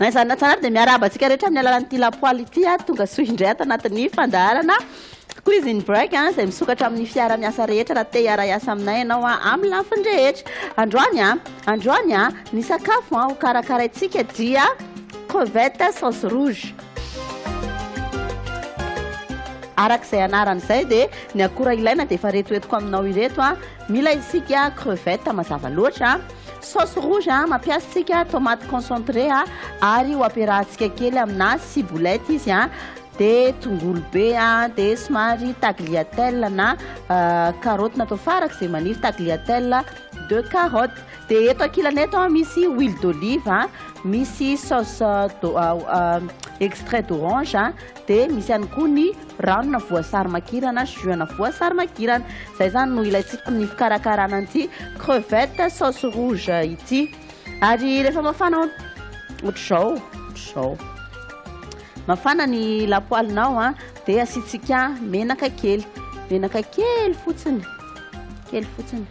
Na izany na izany ary dia miarahaba antsika rehetra amin'ny alalan'ity lapoaly ity aho tonga soa indray ato anatin'ny fandaharana Quiz in Break an, izay misokatra amin'ny fiara-miasa rehetra raha te hiara-hiasa aminay ianao an, amin'ny lafiny rehetra. Androany an, androany an, ny sakafo an, hokarakaraintsika dia crevette sauce rouge. Araka izay anarany izay dia ny akora ilaina dia efa retoetiko aminao ireto an, Mila isika crevettes mazava loatra, sauce rouge mampiasa isika tomate concentré ary ho ampiarahantsika kely amina ciboulette izy a, dia tongolo be a, dia somary tagliatelle na carottes natao farak'izay maniry, tagliatelle de carottes. Dia eto ankilany eto misy huile d'olive, misy sauce extrait d'orange. Dia misy ihany koa ny ranona voasary makirana, jus-na voasary makirana. Izay izany no ilaintsika amin'ny fikarakarana an'ity crevette sauce rouge ity. Ary rehefa mafana ohatr'izao, ohatr'izao. Mafana ny lapoalinao an, dia asiantsika menaka kely. Menaka kely fotsiny, kely fotsiny.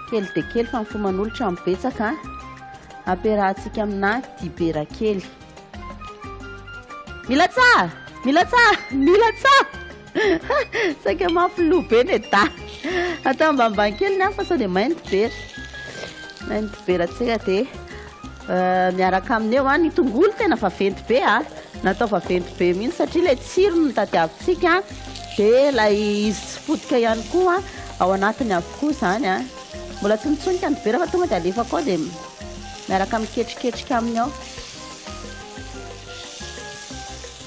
Kely dia kely fa ny fo manolotra no betsaka. Ampiarahantsika amina dibera kely. Milatsaha! Milatsaha! Milatsaha! Saika mafy loha be ny da. Atao ambanimbany kely ny hafa sao dia mainty be. Mainty be ratsira dia euh, miaraka aminy eo ah, ny tongolo tena vaventy be ah. Natao vaventy be mihitsy satria ilay tsirony no tadiavintsika ah. dia ilay izy tsy potika ihany koa ah, ao anatiny avokoa izany ah. Mbola tsy mitsonika ny dibera fa tonga dia alefako ao dia miaraka miketriketrika aminy ao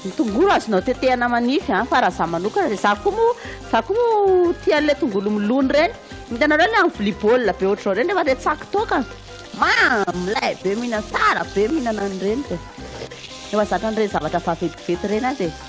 ny tongolo azonao tetehana manify an fa raha za manokana dia za koa moa za koa moa tia an'ilay tongolo milony ireny hitanareo ilay amin'ny vilia baolina be ohatr'izao ireny rehefa ilay tsaky toaka mamy lay be mihinana tsara be mihinana an'ireny dia efa zatra an'ireny zavatra vaventiventy ireny aho dia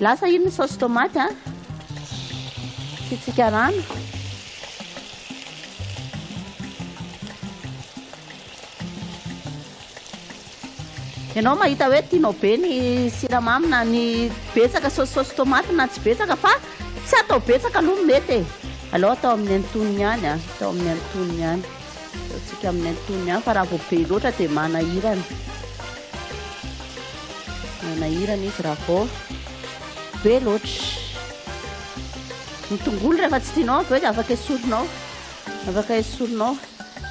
Lasa iny ny saosy tomaty a. Asiantsika rano. Ianao mahita hoe tianao be ny siramamy na ny betsaka saosisaosy tomaty na tsy betsaka fa tsy atao betsaka aloha mety e. Aleo atao amin'ny antonony ihany a, atao amin'ny antonony ihany. Ataontsika amin'ny antonony ihany fa raha vao be loatra dia manahirana. Manahirana izy raha vao be loatra. Ny tongolo rehefa tsy tianao avy eo dia afaka esorinao. Afaka esorinao.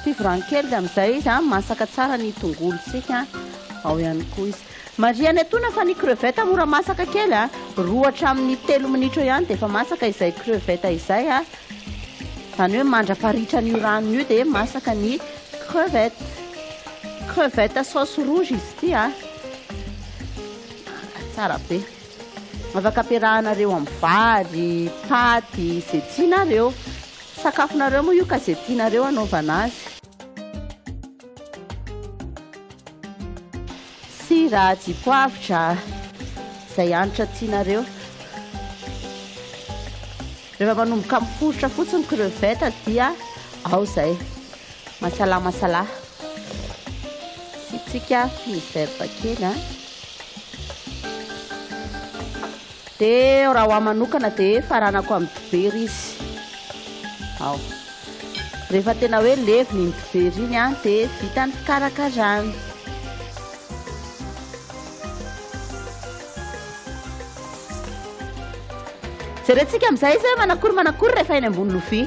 Fivoran'ny kely dia amin'izay izy masaka tsara ny tongolontsika ao ihany koa izy. Marihana etoana fa ny crevette mora masaka kely a, roa hatramin'ny telo minitra eo ihany dia efa masaka izay crevette izay a, izany hoe mandrapaharitra an'io ranony io dia masaka ny crevette. Crevette sauce rouge izy ity a, tsara be. Afaka ampiarahanareo amin'ny vary, paty, izay tianareo. Sakafonareo moa io ka izay tianareo anaovana azy. Sira, dipoavitra, izay hanitra tianareo. Rehefa manomboka miforitra fotsiny ny crevette dia ao izay. Masala masala. Sitsika fine vert kely. Dia raha ho ahy manokana dia faranako amin'ny dibera izy ao. Rehefa tena hoe levona iny dibera iny an dia vita ny fikarakarana. Jerentsika amin'izay izy hoe manakory manakory rehefa eny ambony lovia.